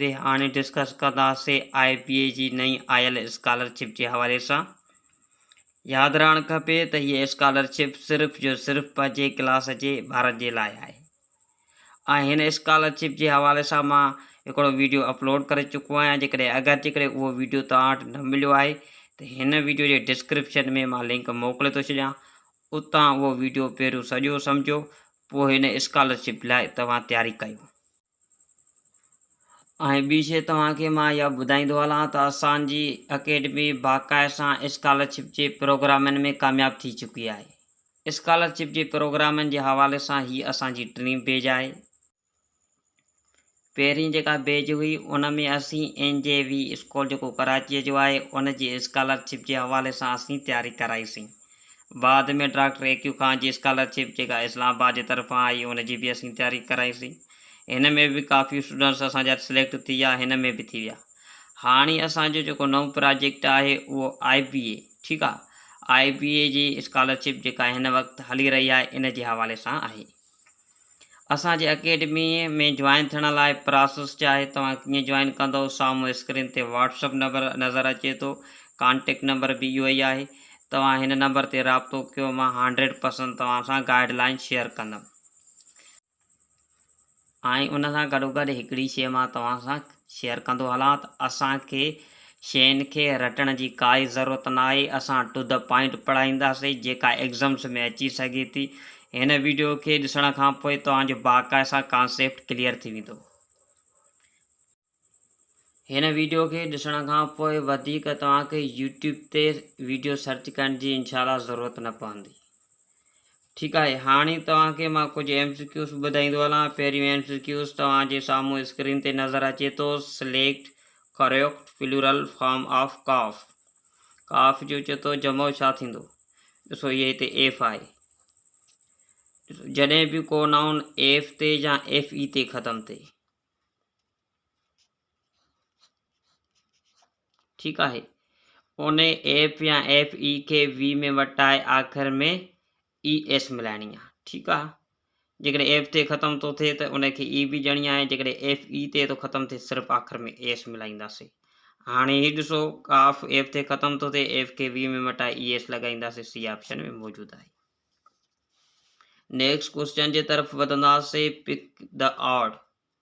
تي هاڻي ڊسڪس ڪنداسين آء بي اي جي نئين آيل اسڪالرشپ جي حوالي سان ياد رهڻ کپي ته هيء اسڪالرشپ صرف جو صرف پنهنجي ڪلاس جي ٻارن جي لاء آهي ۽ هن اسڪالرشپ جي حوالي سان مان هڪڙو ويڊيو اپلوڊ ڪري چڪو آهيان جيڪڏهن اگر جيڪڏهن اهو ويڊيو توهان وٽ نه مليو آهي ته هن ويڊيو جي ڊسڪرپشن ۾ مان لنڪ موڪلي ٿو ڇڏيان اتان اهو ويڊيو پهريون سڄو سمجهو پوء هن اسڪالرشپ لاء توهان تياري ڪيو ۽ ٻي شيء توهان کي مان اها ٻڌائيندو هلان ته اسان جي اڪيڊمي باقائي سان اسڪالرشپ جي پروگرامن ۾ ڪامياب ٿي چڪي آهي. اسڪالرشپ جي پروگرامن جي حوالي سان هي اسان جي ٽين پيج آهي. پهرين جيڪا پيج هئي ان ۾ اسين اين جي وي اسڪول جيڪو ڪراچيء جو آهي ان جي اسڪالرشپ جي حوالي سان اسين تياري ڪرائي سين. بعد ۾ ڊاڪٽر اي ڪيو خان جي اسڪالر شپ جيڪا اسلام آباد جي طرفان آئي ان جي به اسين تياري ڪرائي سي هن ۾ به ڪافي اسٽوڊنٽس اسان جا سليڪٽ ٿي ويا هن ۾ به ٿي ويا هاڻي اسان جو جيڪو نئون پراجيڪٽ آهي اهو آئي بي اي ٺيڪ آهي آئي بي اي جي اسڪالر شپ جيڪا هن وقت هلي رهي آهي ان جي حوالي سان آهي. اسان جي اڪيڊمي ۾ جوائن ٿيڻ لاء پراسس ڇا آهي توهان ڪيئن جوائن ڪندو سامهون اسڪرين تي واٽس اپ نمبر نظر اچي ٿو ڪانٽيڪٽ نمبر به اهو ئي آهي توهان هن نمبر تي رابطو ڪيو مان هنڊريڊ پرسنٽ توهان سان گائيڊ لائين شيئر ڪندم ۽ ان سان گڏوگڏ هڪڙي شيء مان توهان سان شيئر ڪندو هلان ته اسان کي شين کي رٽڻ جي ڪائي ضرورت ناهي اسان ٽو دي پوائنٽ پڙهائينداسين جيڪا ايگزمس ۾ اچي سگهي ٿي هن ويڊيو کي ڏسڻ کان پوء توهان جو باقائسا ڪانسيپٽ ڪليئر ٿي ويندو. هن ويڊيو کي ڏسڻ کان پوء وڌيڪ توهان کي يوٽيوب تي ويڊيو سرچ ڪرڻ جي انشاء الله ضرورت نه پوندي. ٺيڪ آهي هاڻي توهان کي مان ڪجهه ايم سي ڪيوز ٻڌائيندو هلان پهريون ايم سي ڪيوز توهان جي سامهون اسڪرين تي نظر اچي ٿو select correct plural form of calf calf جو چتو جمع ڇا ٿيندو ڏسو هي هتي ايف آهي جڏهن به ڪو نائون ايف تي يا ايف اي تي ختم ٿئي ٺيڪ آهي انهي ايف يا ايف اي کي وي ۾ وٽائي آخر ۾ اي ايس ملائڻي آهي ٺيڪ آهي جيڪڏهن ايف تي ختم ٿو ٿئي ته ان کي اي بي ڄڻي آهي جيڪڏهن ايف اي تي ٿو ختم ٿئي صرف آخر ۾ اي ايس ملائينداسي هاڻي هي ڏسو ڪاف ايف تي ختم ٿو ٿئي ايف کي وي ۾ وٽائي اي ايس لڳائينداسي سي آپشن ۾ موجود آهي نيڪسٽ ڪوشچن جي طرف وڌنداسي pick the odd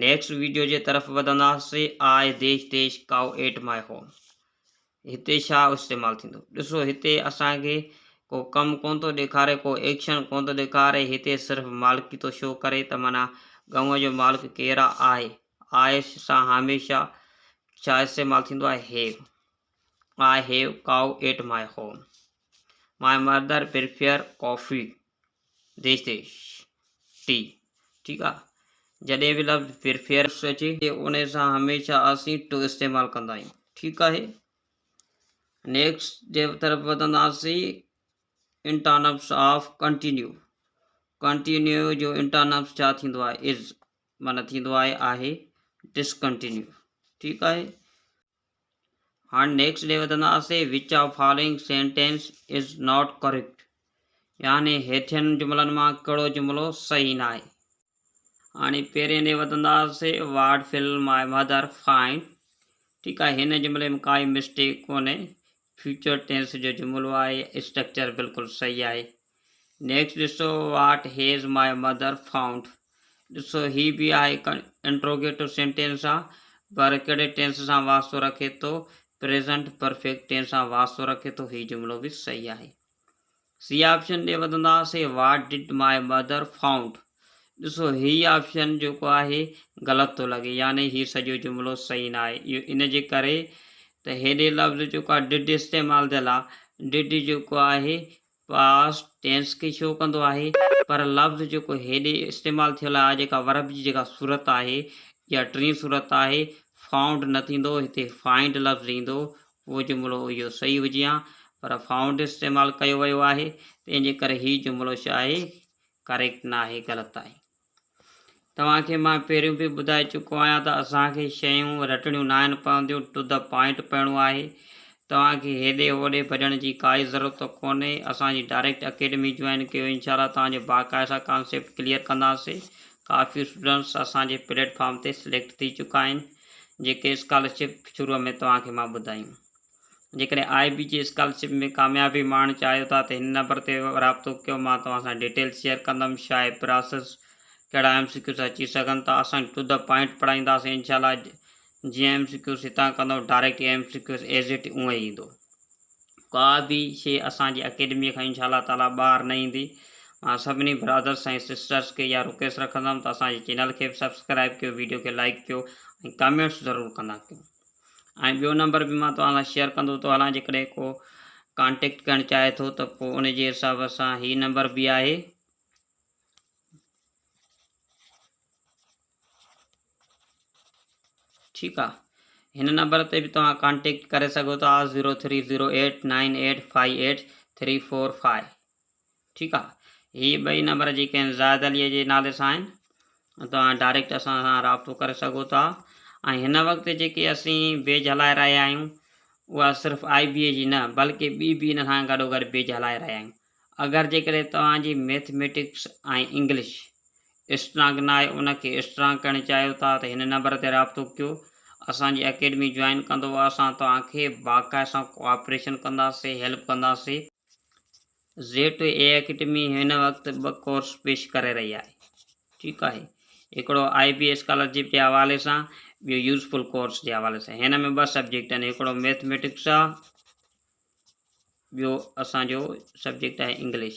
next video جي طرف وڌنداسي آء ديش ديش ڪائو ايٽ مائي هوم هتي ڇا استعمال ٿيندو ڏسو هتي اسان کي ڪو ڪم ڪون ٿو ڏيکاري ڪو ايڪشن ڪون ٿو ڏيکاري هتي صرف مالڪي ٿو شو ڪري ته مانا گنوء جو مالڪ ڪير آهي آء سان هميشه ڇا استعمال ٿيندو آهي هيو I have cow at my home my mother prefer coffee dish dish ٽي ٺيڪ آ جڏهن به لفظ پريفيئر اچي تي ان سان هميشه اسين ٽو استعمال ڪندا آهيون ٺيڪ آهي نيڪسٽ جي طرف وڌنداسين انٽانپس آف ڪنٽينيو ڪنٽينيو جو انٽانپس ڇا ٿيندو آهي از معنی ٿيندو آهي آهي ڊسڪنٽينيو ٺيڪ آهي هاڻي نيڪسٽ ڏي وڌنداسين which of following sentence is not correct يعني هيٺين جملن مان ڪهڙو جملو صحيح ناهي. هاڻي پهرين ڏي وڌنداسين what will my mother find ٺيڪ آهي هن جملي ۾ ڪائي مسٽيڪ ڪونهي فيوچر ٽينس جو جملو آهي اسٽرڪچر بلڪل صحيح آهي نيڪسٽ ڏسو what has my mother found ڏسو هي به آهي هڪ انٽروگيٽو سينٽينس آ پر ڪهڙي ٽينس سان واسطو رکي ٿو پريزنٽ پرفيڪٽ ٽينس سان واسطو رکي ٿو هي جملو به صحيح آهي سي آپشن ڏي وڌنداسي واٽ ڊڊ ماء مدر فائونڊ ڏسو هي آپشن جيڪو آهي غلط ٿو لڳي يعني هي سڄو جملو صحيح نه آهي اهو ان جي ڪري ته هيڏي لفظ جيڪو آهي ڊڊ استعمال ٿيل آهي ڊڊ جيڪو آهي پاسٽ ٽينس کي شو ڪندو آهي پر لفظ جيڪو هيڏي استعمال ٿيل آهي جيڪا ورب جي جيڪا صورت آهي يا ٽين صورت آهي فائونڊ نه ٿيندو هتي فائنڊ لفظ ايندو اهو جملو اهو صحيح هجي ها پر فائونڊ استعمال ڪيو ويو آهي تنهن جي ڪري هي جملو ڇا آهي ڪريڪٽ نه آهي غلط آهي. توهان کي مان پهريون به ٻڌائي چڪو آهيان ته اسان کي شيون رٽڻيون ناهن پونديون، ٽو دي پوائنٽ پئڻو آهي. توهان کي هيڏي هوڏي ڀڄڻ جي ڪائي ضرورت ڪونهي. اسان جي ڊائريڪٽ اڪيڊمي جوائن ڪيو انشاء الله توهان جو باقاعده ڪانسيپٽ ڪليئر ڪنداسين. ڪافي اسٽوڊنٽس اسان جي پليٽ فارم تي سليڪٽ ٿي چڪا آهن جيڪي اسڪالرشپ شروع ۾ توهان کي مان ٻڌايون. جيڪڏهن آء بي جي اسڪالرشپ ۾ ڪاميابي ماڻڻ چاهيو ٿا ته هن نمبر تي رابطو ڪيو مان توهان سان ڊيٽيل شيئر ڪندم شاهي پراسس ڪهڙا ايم سي ڪيوز اچي سگهن ٿا اسان ٽو دي پوائنٽ پڙهائينداسين انشاء الله جيئن ايم سي ڪيوز هتان ڪندو direct A M C Qs as it اونئن ئي ايندو ڪا به شي اسان جي اڪيڊمي کان انشاء الله تعالي ٻاهر نه ايندي مان سڀني برادرس ۽ سسٽرس کي اها رڪويسٽ رکندم ته اسان جي چينل کي به سبسڪرائب ڪيو ويڊيو کي لائڪ ڪيو ۽ ڪمينٽس ضرور ڪندا ڪيو ۽ ٻيو نمبر به مان توهان سان شيئر ڪندو ٿو هلان جيڪڏهن ڪو ڪانٽيڪٽ ڪرڻ چاهي ٿو ته پوء ان جي حساب سان هي نمبر به آهي ٺيڪ آ هن نمبر تي به توهان ڪانٽيڪٽ ڪري سگهو ٿا zero three zero eight nine eight five eight three four five ٺيڪ آ هي ٻئي نمبر جي ڪنهن زاهد علي جي نالي سان آهن توهان ڊائريڪٽ اسان سان رابطو ڪري سگهو ٿا ۽ هن وقت جيڪي اسين بيج هلائي رهيا آهيون اها صرف آئي بي اي جي نه بلڪه ٻي به ان سان گڏو گڏ بيج هلائي رهيا آهيون اگر جيڪڏهن توهان جي ميٿميٽڪس ۽ انگلش اسٽرانگ نه آهي ان کي اسٽرانگ ڪرڻ چاهيو ٿا ته هن نمبر تي رابطو ڪيو اسان جي اڪيڊمي جوائن ڪندو اسان توهان کي باقاعده سان ڪوآپريشن ڪنداسين هيلپ ڪنداسين زيٽ اي اڪيڊمي هن وقت ٻه ڪورس پيش ڪري رهي آهي ٺيڪ آهي هڪڙو آئي بي اسڪالرشپ جي حوالي سان ٻيو يوزفل ڪورس جي حوالي سان هن ۾ ٻه سبجيڪٽ آهن هڪڙو ميٿميٽڪس آهي ٻيو اسانجو سبجيڪٽ آهي انگلش